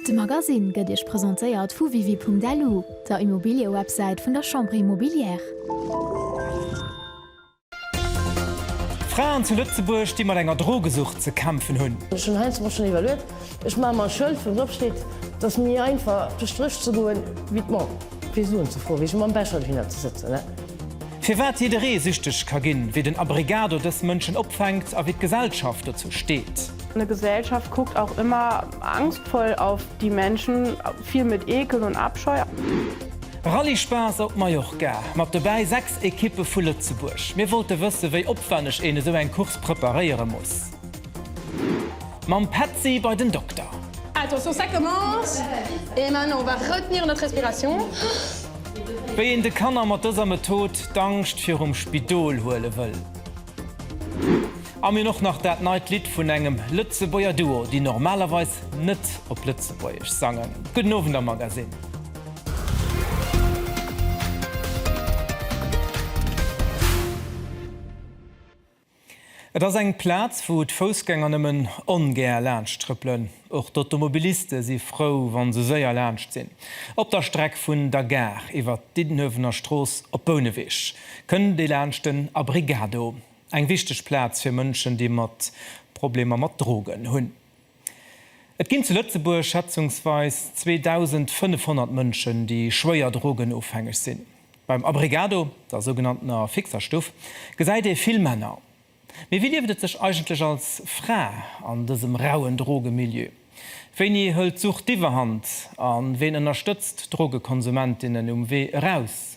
De Magasinn gëtt Iech presentéiert vu Wiwi.lu, der Immobiliëwebsäit vun der Chambre Immobilière. Fraen zu Lëtzebuerg, déi mat enger Drogesucht ze kämpfen hunn. Ech hunn heiansdo mol schonn iwwerluet, ech maache mer e Schëld, wou drop steet, et ass méi einfach duerch d'Rësch ze goen, wéi d'Mall fir Suen ze froen, wéi sech mam Becher dohinner ze sëtzen. Firwat jidderee süchteg ka ginn, wéi den Abrigado dës Mënschen opfänkt a wéi d'Gesellschaft dozou steet. D'Gesellschaft kuckt och ëmmer Angstvoll auf die Menschen, fill mit Ekel und Abscheu. Rallye-Spaass op Mallorca, mat dobäi 6 Ekippe vu Lëtzebuerg. Mir wollte wësse wéi opwenneg een esou eng Course preparéiere muss. Mam Petzi bei den Dokter. Attention ça commence et maintenant on va retenir notre respiration. Wéi een de Kanner mat dëser Method d'Angscht virum Spidol huele wëll. An mir och nach dat neit Lidd vun engem Lëtzebuerger Duo, déi normalerweis net op Lëtzebuergesch sangen. Gudden Owend am Magasinn. Et ass eng Plaz, wou d'Foussgänger nëmmen ongär laanscht trëppelen. Och d'Automobiliste si frou, wa se séier laanscht sinn. Op der Streck vun der Gare iwwer d'Diddenuewener Strooss op Bouneweg kënnt ee laanscht den Abrigado. Eng wichteg Plaz fir Mënschen, déi mat Problemer mat Drogen hunn. Et ginn zu Lëtzebuerg schätzungsweis 2.500 Mënschen, déi schwéier drogenofhängeg sinn. Beim Abregado, der sougenanntener fixer Stuff, gesäit ee vill Männer. Mee wéi lieft et sech eigentlech als Fra an dësem rauen Drogemilieu? Wéini hëlt d'Sucht d'Iwwerhand a ween ënnerstëtzt d'Drogekonsumentinnen um Wee eraus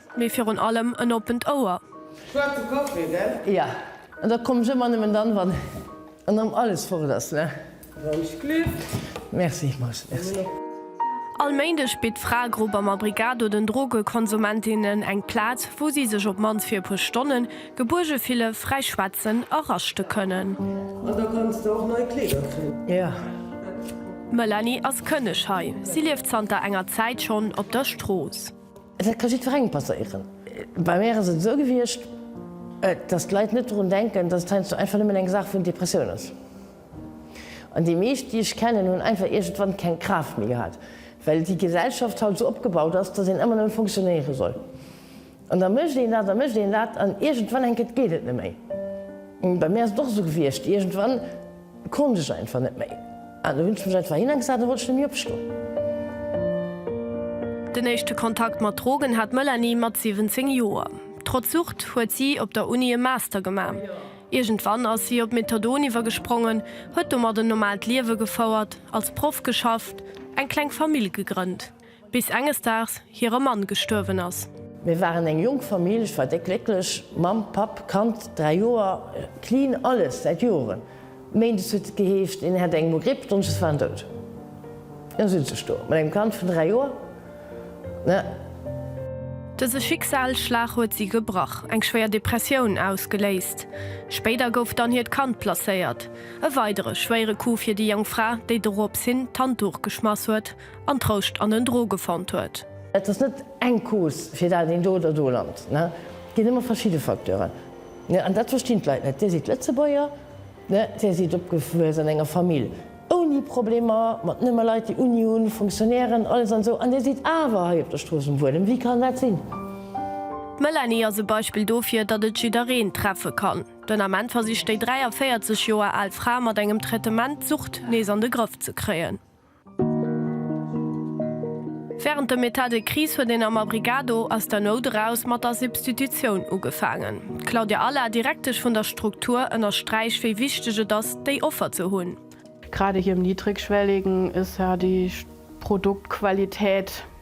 Mee virun allem en oppent Ouer. Schwaarze Café, gell? Ja. An da komm ech ëmmer nëmmen dann, wann erëm alles fort ass, ne? Wënsch Glück. Merci, Max. Merci. All Méindeg bitt d'Fraegrupp am Abrigado den Drogekonsumentin-nen eng Plaz, wou si sech op d'mannst fir e puer Stonnen gebuerge fille, fräi schwätzen a raschte kënnen. An da kanns de och nei Kleeder kréien. Jo. D'Melanie ass Kënneg hei. Si lieft zanter enger Zäit schonn op der Strooss. Dat ka jiddwerengem passéieren. Bei mär ass et esou gewiescht, datt d'Leit net drun denken, datt et heiansdo einfach nëmmen eng Saach vun Depressioun ass. An déi meescht, déi ech kennen, hunn einfach iergendwann keng Kraaft méi gehat, well déi Gesellschaft haut esou opgebaut ass, datt een ëmmer nëmmen fonctionnéiere soll. An da mécht een dat a mécht een dat an iergendwann, enk et, geet et net méi. Bei mär ass et och esou gewiescht, iergendwann, Konnt ech einfach net méi an do hunn ech mech einfach hinnergesat a wollt ech net méi opstoen. Den éischte Kontakt mat Drogen hat d'Melanie mat 17 Joer. Trotz Sucht huet si op der Uni e Master gemaach. Iergendwann ass si op Methadon iwwergesprongen, huet domat en normaalt Liewe gefouert, als Proff geschafft, eng kleng Famill gegrënnt. bis enges Daags hire Mann gestuerwen ass. Mir waren eng jonk Famill, ech war déck glécklech, Mamm, Papp, Kand, 3 Joer, clean alles, säit Joren. Méindes huet et geheescht, een hätt eng mol Gripp, Donneschdes war en dout. Elo sëtz ech do mat engem Kand vun 3 Joer. Dëse Schicksalsschlag huet si gebrach, eng schwéier Depressioun ausgeléist. Spéider gouf dann hiert Kand placéiert. E weidere schwéiere Coup fir déi jonk Fra, déi dorops hin d'Handduch geschmass huet an Trouscht an en Dro gefonnt huet. Et ass net eng Cause fir dat een do oder do lant. Et ginn ëmmer verschidde Facteuren. An dat verstinn d'Leit net. Dir sidd Lëtzebuerger, dir sidd opgewuess an enger Famill ouni Problemer, mat nëmme Leit déi Uni hunn, Fonctionnairen, alles an esou, an dir sidd awer hei op der Strooss um Buedem. Wéi kann dat sinn? D'Melanie ass e Beispill dofir, datt et jiddereen treffe kann. Den Ament versicht déi 43 Joer al Fra mat engem Traitement d'Sucht nees an de Grëff ze kréien. Während dem Etat de crise huet een am Abrigado aus der Nout eraus mat der Substitutioun ugefaangen. D'Claudia Alla, Direktesch vun der Struktur, ënnersträicht, wéi wichteg et ass, déi Offer ze hunn. Grad hir niddregschwelligen, ësserdeesch Produktqualität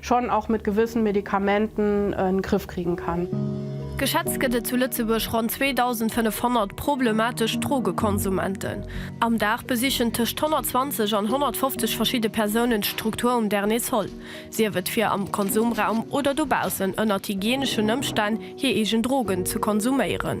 schon auch mit gewissen Medikamenten en Griff kriegen kann. Geschätzt gëtt et zu Lëtzebuerg ronn 2.500 problematesch Drogekonsumenten. Am Dag besichen tëscht 120 an 150 verschidde Persounen d'Struktur um Dernier Sol, sief et fir am Konsumraum oder dobaussen ënnert hygieneschen Ëmstänn hir eegen Drogen ze konsuméieren.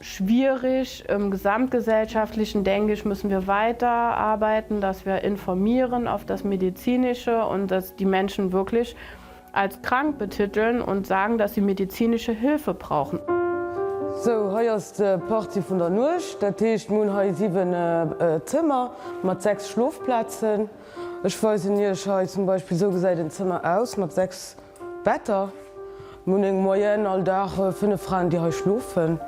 Schwierig. Im gesamtgesellschaftlichen, denke ich, müssen wir weiter arbeiten, dass wir informieren auf das Medizinische und dass die Menschen wirklich als krank betiteln und sagen, dass sie medizinische Hilfe brauchen. Sou, hei ass d'Partie vun der Nuecht. Dat heescht, mir hunn hei 7 Zëmmer mat 6 Schlofplazen. Ech weisen Iech hei zum Beispill, sou gesäit en Zëmmer aus mat 6. Wetter, Munich, Moyenne, All Dag 5 Fraen, déi hei schlofen.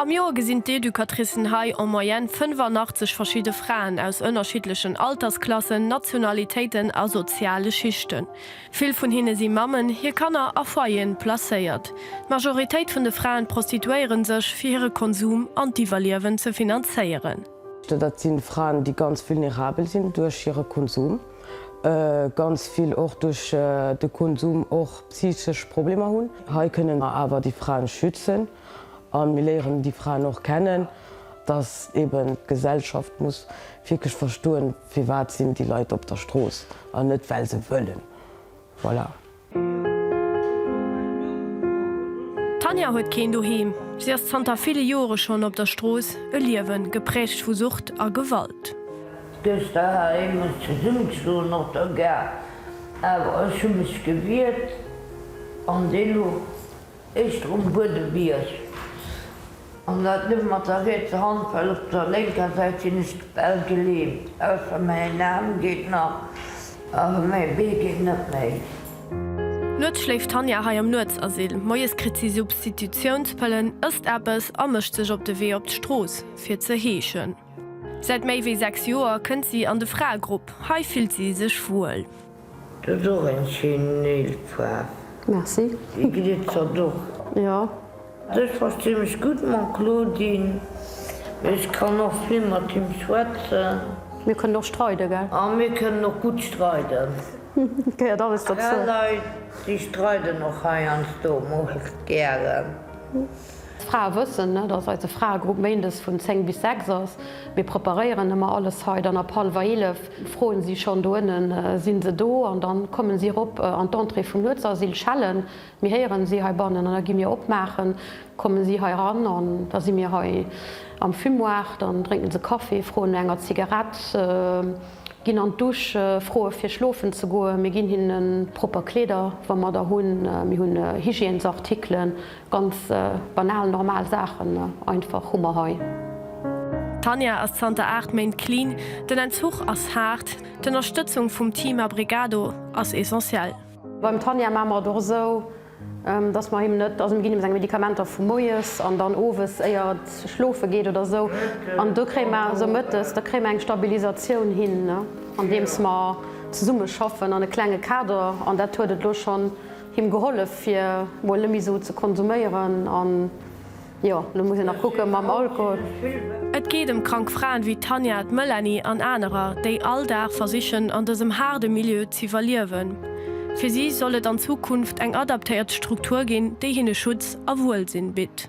Am Joer gesinn d'Educatricen hei en Moyenne 85 verschidde Fraen aus ënnerschiddlechen Altersklassen, Nationalitéiten a soziale Schichten. Vill vun hinne si Mammen, hir Kanner a Foyeren placéiert. D'Majoritéit vun de Fraen prostituéiere sech, fir hire Konsum an d'Iwwerliewen ze finanzéieren. Dat si Fraen, déi ganz vulnerabel sinn duerch hire Konsum. ganz vill och duerch de Konsum och psychesch Problemer hunn. Hei kënnen mer awer déi Fraen schützen an mir léieren déi Fraen och kennen, dass eben d'Gesellschaft muss wierklech verstoen, firwat sinn déi Leit op der Strooss an net well se wëllen. Voilà. D'Tanja huet keen Doheem. Si ass zanter ville Jore schonn op der Strooss, e Liewen, gepräägt vu Sucht a Gewalt. Dëst doheim muss zesummegeschloen, och der Gare. Awer ech hu mech gewiert an dee lo. Éischt erum Buedebierg, an dat net mat der rietser Hand, well op der lénker Säit sinn ech bal gelähmt, ausser mäin Aarm geet nach, awer mäi Bee geet net méi. Nuets schléift d'Tanja hei am Nuetsasyl, moies kritt si Substitutiounspëllen, ësst eppes a mécht sech op de Wee op d'Strooss, fir ze heeschen. Säit méi wéi 6 Joer kënnt si an de Fraegrupp, hei fillt si sech wuel. Du hues och eng schéin Néilfaarf. Merci. Déi glitzert och. Jo. Also ech verstee mech gutt mam Claudine, mee ech kann och vill mat him schwätzen. Mir kënnen och streide gell? A mir kënnen och gutt streiden. Gehéiert alles dozou. Fra Leit déi streiden och heiansdo mol gären. D'Frae wëssen, dass eise Fraegrupp méindes vun 10 bis 6 ass. Mir preparéieren ëmmer alles hei. Dann ab hallwer 11 froen si schonn, do ënnen sinn se do? An da kommen si erop an d'Entrée vum Nuetsasyl, schellen, mir héieren si heibannen an da gi mir opmaachen, kommen si hei ran an da si mir hei am Fumoir. Dann drénken se Kaffi, froen no enger Zigarett, ginn an d'Douche, froe fir schlofen ze goen. Mir ginn hinnen propper Kleeder, wa mer der hunn. Mir hunn Hygiènesartikelen. Ganz banal normal Saachen einfach hu mer hei. D'Tanja ass zanter 8 Méint clean. Den Entzuch ass haart. D'Ënnerstëtzung vum Team Abrigado ass essentiell. Beim Tanja maache mer et och esou, dass mer him net, also mir ginn him seng Medikamenter vu moies an dann owes éier et schlofe geet oder esou an do kréie mer esou mëttes, da kréie mer eng Stabilisatioun hin andeems mer zesumme schaffen an e klenge Kader an dat huet et elo schonn. Him gehollef fir mol nemme sou ze konsuméieren an jo lo muss een nach kucken mam Alkohol. Et geet ëm krank Fraen wéi d'Tanja, d'Melanie an anerer, déi all Dag versichen an dësem haarde Milieu z'iwwerliewen. Fir si soll et an Zukunft eng adaptéiert Struktur ginn, déi hinne Schutz a Wuelsinn bitt.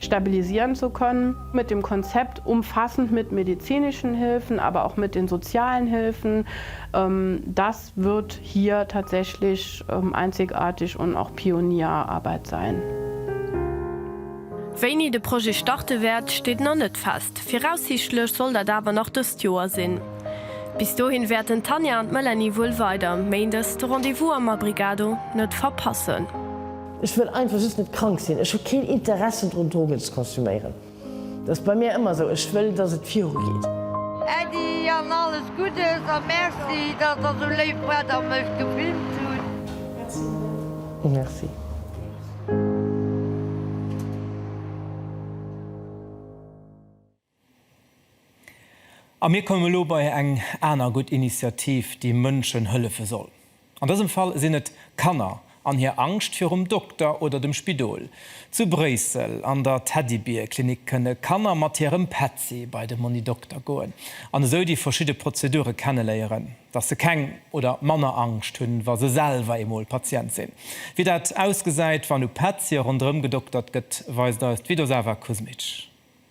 stabilisieren zu können, mit dem Konzept umfassend mit medizinischen Hilfen, aber auch mit den sozialen Hilfen, das wird hier tatsächlich einzigartig und auch Pionierarbeit sein. Wéini de Projet starte wäert, steet nach net fest. Viraussiichtlech soll dat awer nach dëst Joer sinn. Bis dohin wäerten d'Tanja an d'Melanie wuel weider méindes de Rendez-vous am Abrigado net verpassen. Ech wëll einfach just net krank sinn. Ech hu keen Interessen drun, Drogen ze konsuméieren. Dat ass bei mir ëmmer esou. Ech wëll, dass et virugeet. Äddi an alles Guddes a Merci, dass der sou léif waart a mech gefilmt hutt. Merci Marie. Merci. A mir kommen elo bei eng aner gutt Initiativ, déi Mënschen hëllefe soll. An dësem Fall sinn et Kanner an hir Angscht virum Dokter oder dem Spidol. Zu Bréissel an der Teddybier-Klinik kënne Kanner mat hirem Petzi bei de Monni Dokter goen an esou déi verschidde Prozedure kenneléieren, dass se keng oder manner Angscht hunn, wa se selwer eemol Patient sinn. Wéi dat ausgesäit, wann u Petzier ronderëm gedoktert gëtt, weist eis d'Vidosava Kuzmic.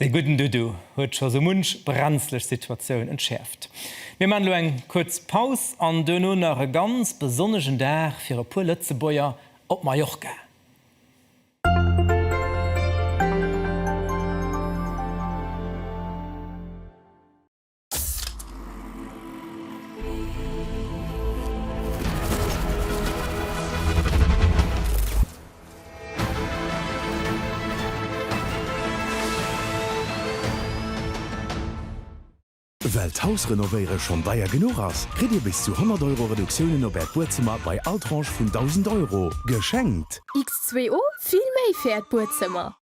Dee gudden Dudu huet scho sou munch brenzlech Situatioun entschäerft. Mir maachen elo eng kuerz Paus an duerno nach e ganz besonnegen Dag fir e puer Lëtzebuerger op Mallorca. Well d'Haus renovéiere schonn deier genuch ass, kritt Dir bis zu 100 Euro Reduktiounen op Äert Buedzëmmer bei all Tranche vun 1.000 Euro geschenkt. X2O, vill méi fir Äert Buedzëmmer!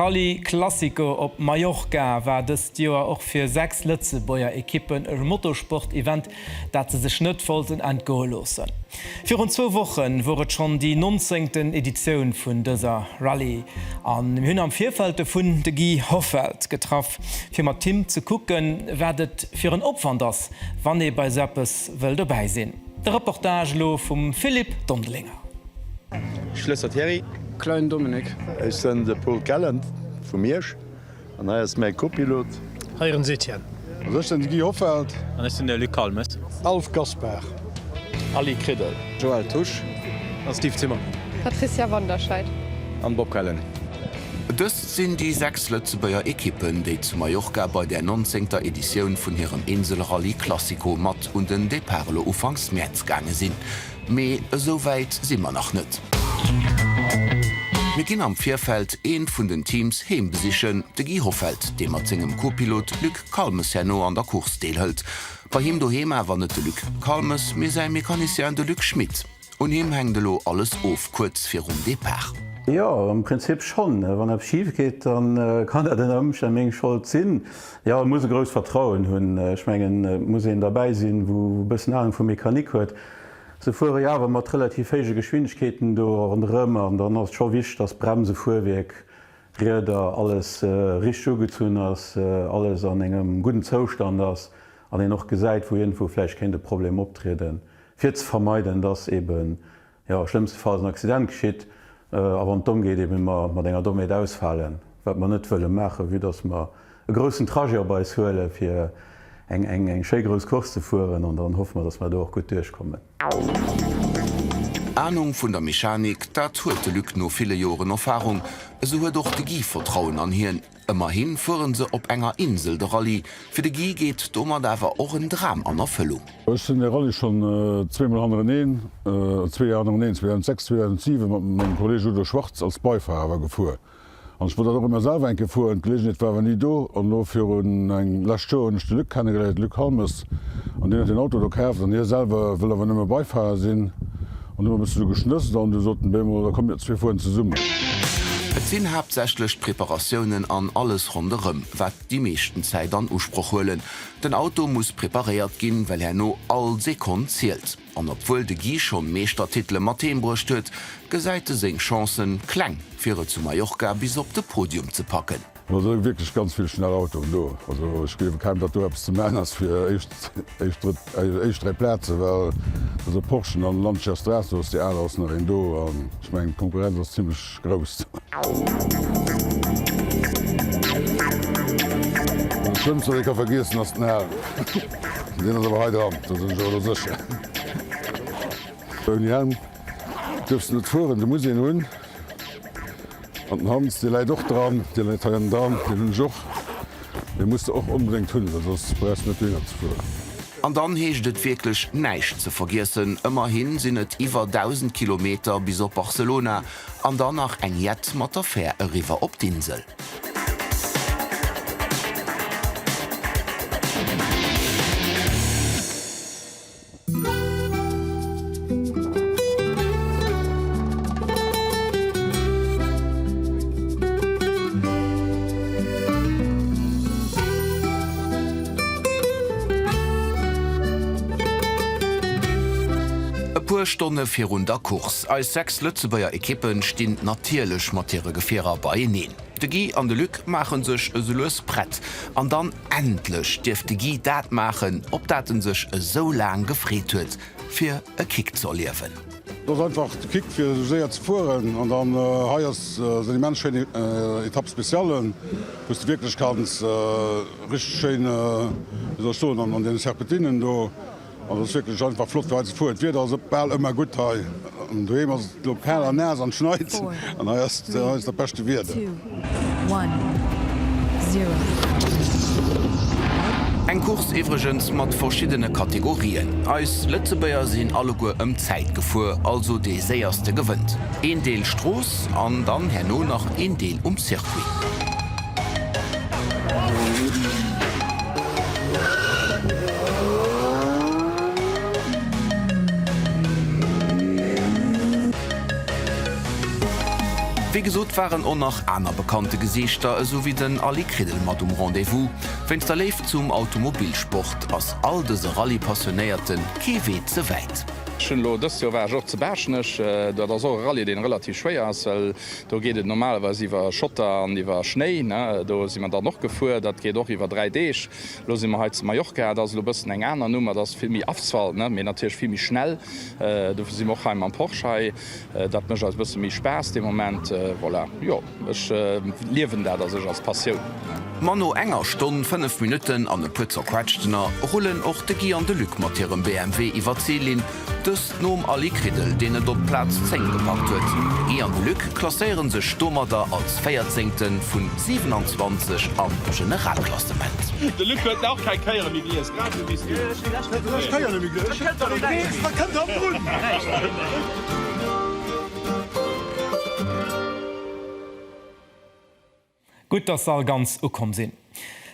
D'Rallye Classico op Mallorca war dëst Joer och fir 6 Lëtzebuerger Ekippen e Motorsport-Event, dat se sech net wollten entgoe loossen. Virun zwou Woche wor et schonn déi nonzéngten Editioun vun dëser Rallye a mir hunn am Virfeld dovun de Guy Hoffelt getraff, fir mat him ze kucken, wat et fir en Opwand ass, wann ee bei esou eppes wëll dobäi sinn. De Reportage elo vum Philippe Dondelinger. Schlësser Thierry. Klein Dominik. Ech sen de Paul Kellen vu Miersch an hei ass mäi Kopilot. Hei rens Etienne. Also ech sen de Guy Hoffelt. An ech sen de Luc Kalmes. Alf Gaspar. Aly Kriddel. Joël Tusch. An Steve Zimmermann. Patricia Wanderscheid. An Bob Kellen. Dëst sinn déi 6 Lëtzebuerger Ekippen, déi zu Mallorca bei der 19ter Editioun vun hirem Inselrallye Classico mat un den Depart elo ufanks Mäerz gaange sinn. Mee esou wäit si mer nach net. Mir ginn am Virfeld eent vun den Teams heem besichen, de Guy Hoffelt, dee mat sengem Co-Pilot Luc Calmes herno an der Course deelhëlt. Bei him doheem awer net de Luc Calmes, mee säi Mecanicien, de Luc Schmit. Un him hänkt elo alles of, kuerz virum Depart. Jo, am Prinzip schonn. Wann eppes schif geet, da kann dat ënner Ëmstänn meng Schold sinn. Jo, e muss e grousst Vertrauen hunn. Ech mengen, et muss een derbäi sinn, wou e bëssen Ahnung vu Mechanik huet. Se fuere jo awer mat relativ héije Geschwindegkeeten do ronderëm an dann ass et scho wichteg, dass Bremse, Fuerwierk, Rieder, alles richteg ugezunn ass, alles an engem gudden Zoustand ass an een och gesäit, wou iergendwou vläicht kéint e Problem optrieden, fir ze vermeiden, dass eeben Jo, schlëmmstefalls en Accident geschitt, a wann et domm geet, eebe mer mat enger Dommheet ausfalen, wat mer net wëlle maachen, vue dass mer e groussen Trajet op eis huelen, fir eng schéi grouss Course ze fueren, an dann hoffe mer, dass mer do och gutt duerchkommen. Anung vun der Mechanik, dat huet de Luc no ville Joren Erfarung, esou huet och de Guy Vertrauen an hien. Ëmmerhi fuere se op enger Insel de Rallye. Fir de Guy geet domat awer och en Dram an Erfëllung. Ech sinn de Rallye schonn zweemol hannereneen, zwee Joer hannereneen, 2006, 2007, mat mengem Kolleeg Udo Schwarz als Beifahrer awer gefuer. An ech wollt dat och ëmmer selwer eng Kéier fueren, d'Geleeënheet war awer ni do. An elo virun eng lescht Joer hunn ech de Luc kennegeléiert, Luc Halmes, an deen huet deen Auto do kaaft an hie selwer wëll awer nëmme Beifahrer sinn. An du hun e bëssen esou geschnësst an du soten, Bé mol, da komm mir zwee fueren zesummen. Et sinn haaptsächlech d'Preparatiounen an alles ronderëm, wat déi meeschten Zäit an Usproch huelen. Den Auto muss preparéiert ginn, well herno all Sekonn zielt. An obwuel de Guy schonn Meeschtertitele mat heem bruecht huet, gesäit e seng Chancen kleng, fir et zu Mallorca bis op de Podium ze packen. No et sinn wierklech ganz vill schnell Autoen do. Also ech gleewe kaum datt do eppes ze man ass fir éischt 3 Plazen, well also Porschen an Lancia Stratos, déi aler ass nach een do an ech mengen d'Konkurrenz ass zimlech grouss. Den schlëmmsten wat ee ka vergiessen ass den Helm. Deen ass awer hei dran, do sinn ech awer elo sécher. Ouni Helm duerfs de net fueren, de muss een hunn. An den Hans, dee läit och dran. Dee läit hei am Darm. Deen hunn ech och. Dee muss de och onbedéngt hunn, well soss brauchs de net dohinner ze fueren. An dann heescht et wierklech näischt ze vergiessen, ëmmerhi sinn et iwwer 1.000 Kilometer bis op Barcelona an dann nach eng jett mat der Fär eriwwer op d'Insel. E puer Stonne virun der Course. Eis 6 Lëtzebuerger Ekippe stinn natierlech mat hire Gefierer beieneen. De Guy an de Luc maache sech esou lues prett an dann. Endlech dierf de Guy dat maachen, op dat en sech esou laang gefreet huet, fir e Kick ze erliewen. Dat ass einfach de Kick fir esou séier ze fueren. An dann hei ass esou eng immens schéin Etape spéciale, wou s de wierklech kanns richteg schéin, wéi soll ech soen, an deene Serpentinen do, An et ass wierklech einfach flott fir hei ze fueren. D'Wieder ass bal ëmmer gutt hei. An doheem ass et elo kal a naass an schneit. An hei ass et dat beschte Wieder. Eng Course iwwregens mat verschiddene Kategorien. Eis Lëtzebuerger sinn alleguer ëm Zäit gefuer, also dee Séierste gewënnt. Een Deel Strooss an dann herno nach een Deel um Circuit. Wéi gesot waren och nach aner bekannte Gesiichter esou wéi den Aly Kridel mat um Rendez-vous. Wéinst der Léift zum Automobilsport ass all dëse Rallye-Passionéierte kee Wee ze wäit. Dëst Joer war ech och zu Baaschtnech. Dat ass och e Rallye, dee relativ schwéier ass. Do geet et normalerweis iwwer Schotter an iwwer Schnéi. Do si mer dann och gefuer. Dat geet och iwwer dräi Deeg. Elo si mer hei zu Mallorca. Dat ass elo e bëssen eng aner Numm. Et ass vill méi Asphalt, mee natierlech vill méi schnell. Dofir si mer och hei mam Porsche hei. Dat mécht eis e bësse méi Spaass de Moment. Voilà, jo, ech liewen dat a sech als Passioun. Ma no enger Stonn, fënnef Minutten an e puer Zerquetschtener rullen och de Guy an de Luc mat hirem BMW iwwer d'Zillinn Dëst nom Ali Kriddel, deen et op d'Plaz 10 gepackt huet. Guy an de Luc klasséiere sech domadder als Véierzéngte vu 27 am Generalklassement. De Luc huet nach keng Kéier méi gelies, grad esou wéi s du. Gutt dass se all ganz ukomm sinn.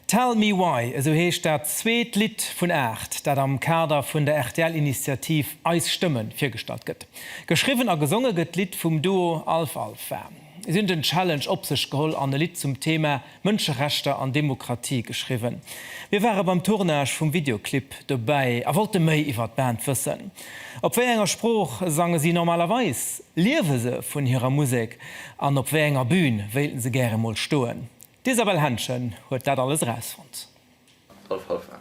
Tell Me Why, esou heescht dat zweet Lidd vun aacht, dat am Kader vun der RTL-Initiativ Eis Stëmme virgestallt gëtt. Geschriwwen a gesonge gëtt d'Lidd vum Duo Alph Alpha. Si hunn den Challenge op sech geholl an e Lidd zum Thema Mënscherechter an Demokratie geschriwwen. Mir ware beim Tournage vum Videoclip dobäi a wollte méi iwwer d'Band wëssen. Op wéi enger Sprooch sange si normalerweis? Liewe se vun hirer Musek an op wéi enger Bühn wéilten se gäre mol stoen? D'Isabelle Henschen huet dat alles erausfonnt.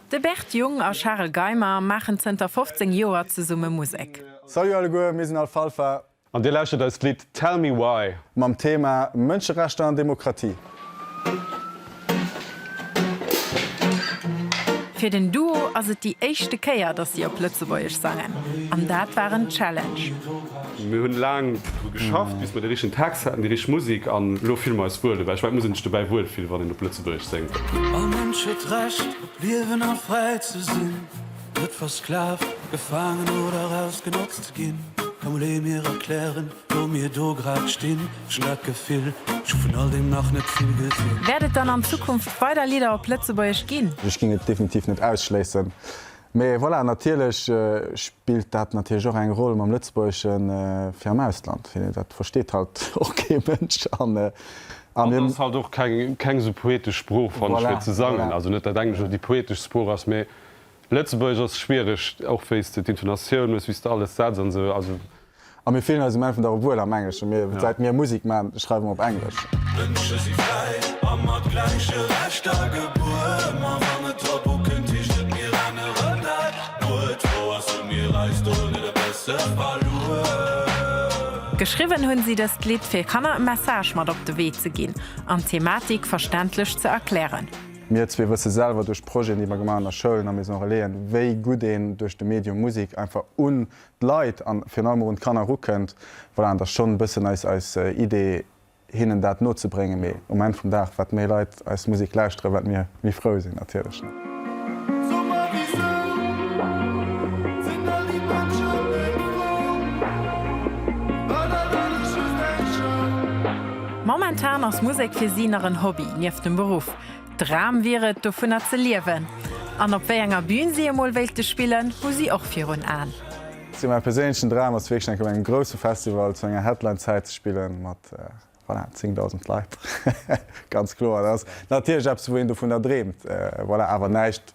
De Bert Jung a Charel Geimer maachen zënter 15 Joer zesumme Musek. Salut alleguer, mir sinn Alfalfa. An dir lauschtert eist Lidd Tell Me Why. Mam Thema Mënscherechter an Demokratie. Fir den Duo ass et déi éischte Kéier, dass si op Lëtzebuergesch sangen, an dat war en Challenge. Mir hunn laang dru geschafft, bis mir de richtegen Text haten, déi richteg Musek, an elo fille mer eis wuel dobäi. Ech mengen, et muss een sech dobäi wuel fillen, wann een op Lëtzebuergesch séngt. All Mënsch huet d'Recht, op liewen a fräi ze sinn, net versklavt, gefaangen oder ausgenotzt ze ginn. Komm, léi mir erklären, Wou mir do grad stinn, ech hunn dat Gefill, ech hu vun all deem nach net vill gesinn. Wäert et dann an Zukunft weider Lidder op Lëtzebuergesch ginn? Ech géing et definitiv net ausschléissen. Mee voilà, natierlech spillt dat natierlech och eng Roll mam Lëtzebuergesche fir am Ausland. Dat versteet halt och kee Mënsch. An et ass halt och keng esou poetesch Sprooch, fanne ech, fir ze sangen. Also net, datt Englesch déi poeteschst Sprooch ass, mee Lëtzebuergesch ass schwiereg, och wéi s de d'Intonatioun hues, wéi s de alles setz an esou. A mir fillen eis um Enn vun der Rep wuel am Engleschen. Mir, säit mir Musek man, schreiwe mer op Englesch. Geschriwwen hunn si dëst Lidd fir Kanner e Message mat op de Wee ze ginn an d'Thematik verständlech ze erklären. Mir zwee wësse selwer duerch Projeten déi mer gemaach hunn a Schoulen a Maison Relaisen, wéi gutt een duerch de Medium Musek einfach un d'Leit an virun allem erun d'Kanner erukënnt, voilà, an et ass schonn e bëssen eis eis Idee hinnen dat nozebréngen, mee um Enn vum Dag wat méi Leit eis Musek lauschteren, wat mir méi frou sinn natierlech. Momentan ass Musek fir si nach en Hobby nieft dem Beruff. Dram wier et, dovunner ze liewen. An op wéi enger Bün si emol wéilte spillen, hu si och virun Aen. Sou mäi perséinlechen Dram ass wierklech enk op engem grousse Festival zu enger Headline-Zäit ze spillen, mat, voilà, 10.000 Leit. Ganz kloer, dat ass natierlech eppes, wou een dovunner dreemt, voilà, awer näischt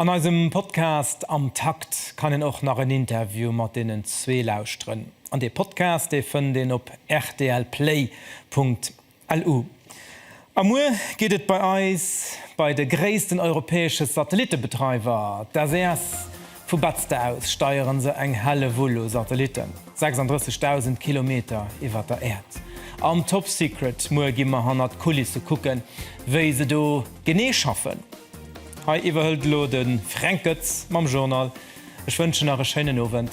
An eisem Podcast Am Takt kann een och nach en Interview mat deenen zwee lauschteren. An dee Podcast, dee fënnt een op rtlplay.lu. A muer geet et bei eis bei de gréissten europäesche Satellittebetreiwer, d'SES, Vu Betzder aus steieren se eng Hellewull u Satellitten, 36.000 Kilometer iwwer der Äerd. Am Top Secret muer gi mer hannert d'Kulisse kucken, wéi se do genee schaffen. Hei iwwerhëlt elo de Fränk Goetz mam Journal. Ech wënschen nach e schéinen Owend.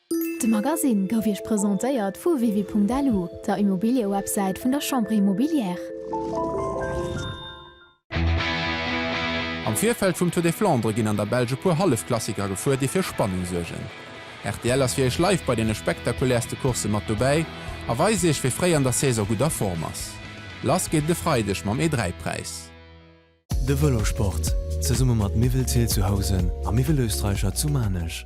De Magasinn gouf Iech presentéiert vu Wiwi.lu, der Immobiliëwebsäit vun der Chambre Immobilière. Am Virfeld vum Tour des Flandres ginn an der Belsch e puer Hallefklassiker gefuer, déi fir Spannung suergen. Rtl ass fir Iech live bei deene spektakulärste Coursse mat dobäi a weist Iech, wie fréi an der Saison gutt a Form ass. Lass geet et e Freideg mam E3-Präis. De Vëlosport, zesumme mat Miwwel Thiel zu Housen a Miwwel Österreicher zu Maarnech.